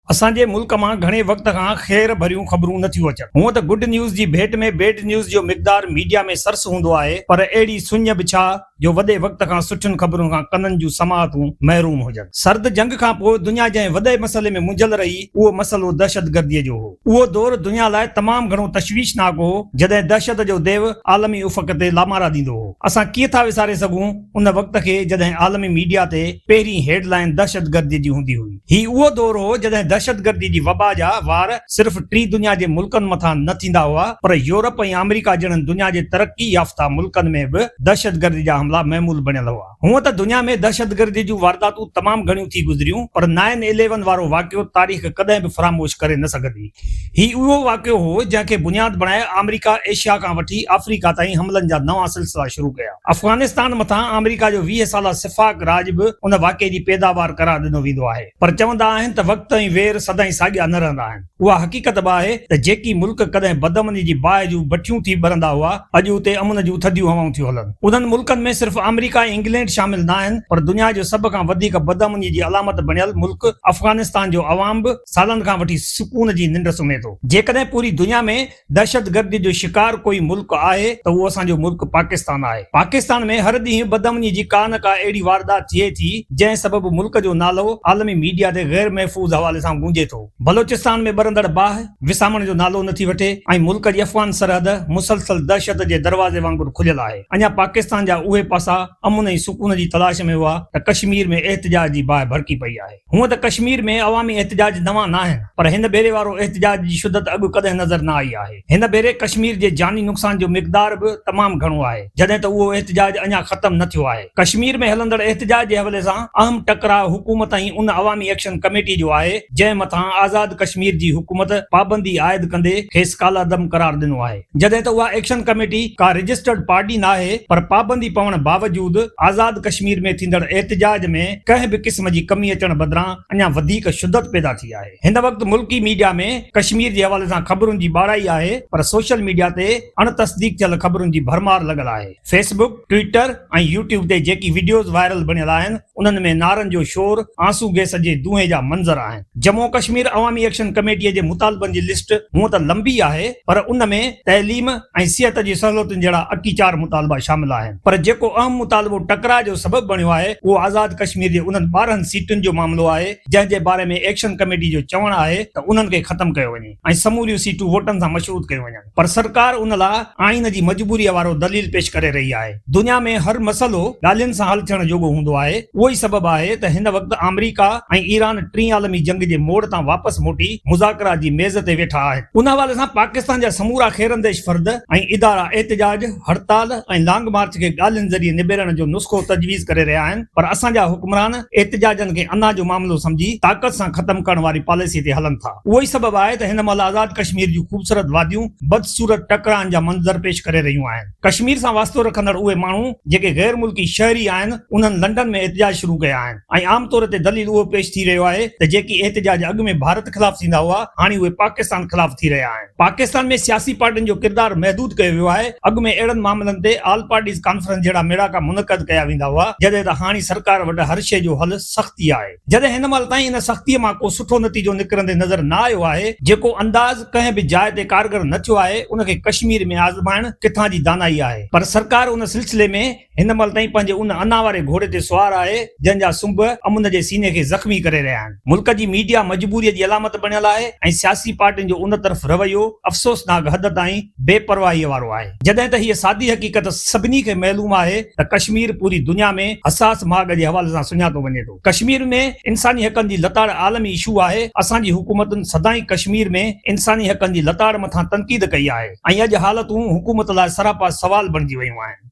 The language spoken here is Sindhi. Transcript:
اسان جي ملڪ مان گهڻي وقت کان خير ڀريون خبرون نه ٿيون اچن. هونء ته گڊ نيوز جي ڀيٽ ۾ بيڊ نيوز جو مقدار ميڊيا ۾ سرس هوندو آهي پر اهڙي سڃ به ڇا جو وڏي وقت کان سٺين خبرن کان ڪنن جون سماعتون محروم هجن. سرد جنگ کان پوء دنيا جنهن وڏي مسئلي ۾ منجهيل رهي اهو مسئلو دهشتگرديء جو هو. اهو دور دنيا لاء تمام گهڻو تشويشناڪ هو جڏهن دهشت جو ديو عالمي افق تي لامارا ڏيندو هو. اسان ڪيئن ٿا وساري سگهون؟ ان وقت کي جڏهن عالمي ميڊيا تي پهرين هيڊ لائن دهشتگردي جي هوندي هئي. هي اهو دور هو جڏهن دهشتگردي جي وبا جا وار صرف ٽي دنيا جي ملڪن مٿان نه ٿيندا هئا پر يورپ ۽ آمريڪا جهڙن دنيا جي ترقي يافته ملڪن ۾ به دهشتگردي جا حملا معمول بڻيل هئا. هونء ته دنيا ۾ دهشتگردي جون وارداتون تمام گهڻيون ٿي گذريون پر نائن اليون وارو واقعو تاريخ ڪڏهن به فراموش ڪري نه سگهندي. هي اهو واقعو هو، جنهن کي بنياد بڻائي آمريڪا ايشيا کان وٺي آفريڪا تائين حملن جا نوان سلسلا شروع ڪيا. افغانستان مٿان آمريڪا جو ويهه سالا سفاڪ راڄ به ان واقعي جي پيداوار قرار ڏنو ويندو آهي. پر چوندا آهن ته وقت ۽ وير سدائين ساڳيا نه رهندا آهن. اها حقيقت به آهي ته جيڪي ملڪ ڪڏهن بدامني جي باهه جون بٺيون ٿي ٻرندا هئا، اڄ اتي امن جون ٿڌيون هوائون ٿيون هلن. انهن ملڪن ۾ صرف آمريڪا ۽ انگلينڊ شامل ناهن، پر دنيا جو سڀ کان وڌيڪ بدامني جي علامت بڻيل ملڪ افغانستان جو عوام به سالن کان وٺي سڪون جي ننڊ سمهي ٿو. جيڪڏهن پوري دنيا ۾ دهشتگردي جو شڪار ڪوئي ملڪ آهي ته اهو اسان جو ملڪ پاڪستان آهي. پاڪستان ۾ هر ڏينهن بدامني جي ڪا نه ڪا اهڙي واردات ٿئي ٿي جنهن سبب ملڪ جو نالو عالمي ميڊيا تي غير محفوظ حوالي سان گونجي ٿو. بلوچستان ۾ ٻرندڙ باهه وسامڻ جو نالو نٿي وٺي ۽ ملڪ جي افغان سرحد مسلسل دهشت جي دروازي وانگر کليل آهي. اڃا پاڪستان جا اهي پاسا امن ۽ سڪون جي تلاش ۾ هئا ته ڪشمير ۾ احتجاج جي باهه ڀڙڪي پئي آهي. هونء ته ڪشمير ۾ عوامي احتجاج نوان ناهن پر هن ڀيري وارو احتجاج جي شدت اڳ ڪڏهن نظر نه آئي آهي. هن ڀيري ڪشمير جي جاني نقصان جو مقدار به تمام گهڻو آهي جڏهن ته اهو احتجاج اڃا ختم نه ٿيو آهي. ڪشمير ۾ هلندڙ احتجاج جي حوالي سان اهم ٽڪراء حڪومت ۽ ان عوامي ايڪشن ڪميٽي جو آهي جنهن مٿان آزاد ڪشمير جي حڪومت پابندي عائد ڪندي کيس ڪالعدم قرار ڏنو آهي. جڏهن ته اها ايڪشن ڪميٽي ڪا رجسٽرڊ پارٽي ناهي پر پابندي پوڻ باوجود آزاد ڪشمير ۾ ٿيندڙ احتجاج ۾ ڪنهن به قسم جي ڪمي اچڻ بدران اڃا وڌيڪ شدت پيدا ٿي آهي هن وقت ملڪي ميڊيا ۾ ڪشمير جي حوالي سان خبرن جي ٻاڙائي آهي پر سوشل ميڊيا تي اڻ تصديق ٿيل خبرن جي ڀرمار لڳل آهي فيس بڪ ٽوئيٽر ۽ يوٽيوب تي جيڪي وڊيوز وائرل بڻيل آهن انهن ۾ نعرن جو شور، آنسو گئس جي دونهي جا منظر آهن. جمون و ڪشمير عوامي ايڪشن ڪميٽيء جي مطالبن جي لسٽ هونء ته لنبي آهي پر ان ۾ تعليم ۽ صحت جي سهولتن جهڙا اڪي چار مطالبا شامل آهن پر جيڪو اهم مطالبو ٽڪراء جو سبب بڻيو آهي اهو آزاد ڪشمير جي انهن ٻارهن سيٽن جو معاملو آهي جنهن جي باري ۾ ايڪشن ڪميٽي جو چوڻ آهي ته انهن کي ختم ڪيو وڃي. ۽ سموريون سيٽون ووٽن سان مشروط ڪيون وڃن پر سرڪار ان لاء آئين جي مجبوريء وارو دليل پيش ڪري رهي آهي. دنيا ۾ هر مسئلو ڳالهين سان حل ٿيڻ جوڳو هوندو آهي، اهو ئي سبب آهي ته هن وقت آمريڪا ۽ ايران ٽين عالمي جنگ جي موڙ تان واپس موٽي مذاڪرات جي ميز تي ويٺا آهن. ان حوالي سان پاڪستان جا سمورا خيرانديش فرد ۽ ادارا احتجاج، هڙتال ۽ لانگ مارچ کي ڳالهين ذريعي نبيرڻ جو نسخو تجويز ڪري رهيا آهن پر اسان جا حڪمران احتجاجن کي انا جو معاملو سمجهي طاقت سان ختم ڪرڻ واري پاليسي تي هلن ٿا. اهو ئي سبب آهي ته هن مهل آزاد ڪشمير جون خوبصورت واديون بدصورت ٽڪرائن جا منظر پيش ڪري رهيون آهن. ڪشمير سان واسطو رکندڙ اهي ماڻهو جيڪي غير ملڪي شهري آهن انهن لنڊن ۾ احتجاج شروع ڪيا آهن ۽ عام طور تي دليل اهو پيش ٿي رهيو آهي ته جيڪي احتجاج اڳ ۾ ڀارت خلاف ٿيندا هئا هاڻي اهي پاڪستان خلاف ٿي رهيا آهن. پاڪستان ۾ سياسي پارٽين جو ڪردار محدود ڪيو ويو آهي، اڳ ۾ اهڙن معاملن تي آل پارٽيز ڪانفرنس جهڙا ميڙاڪا منعقد ڪيا ويندا هئا، جڏهن ته هاڻي سرڪار وٽ هر شيء جو حل سختي آهي، جڏهن هن مهل تائين ان سختيء مان ڪو سٺو نتيجو نڪرندي نظر نه آيو آهي، جيڪو انداز ڪنهن به جاء تي ڪارگر نه ٿيو آهي، ان کي ڪشمير ۾ آزمائڻ ڪٿان جي دانائي آهي، پر سرڪار ان سلسلي ۾. هن مهل تائين پنهنجي ان انا واري گهوڙي تي سوار آهي، جنهن جا سنب امن جي سيني کي زخمي ڪري رهيا آهن. ملڪ جي ميڊيا مجبوريء جي علامت بڻيل آهي ۽ سياسي پارٽين جو ان طرف رويو افسوسناڪ حد تائين بي پرواهيء وارو آهي. جڏهن ته هيء سادي حقيقت سڀني کي معلوم آهي ته ڪشمير پوري دنيا ۾ حساس ماڳ جي حوالي سان سڃاتو وڃي ٿو. ڪشمير ۾ انساني حقن جي لتاڙ عالمي اشو آهي. اسان جي حڪومتن سدائين ڪشمير ۾ انساني حقن جي لتاڙ مٿان تنقيد ڪئي آهي ۽ اڄ حالتون حڪومت لاء سراپا سوال بڻجي ويون آهن.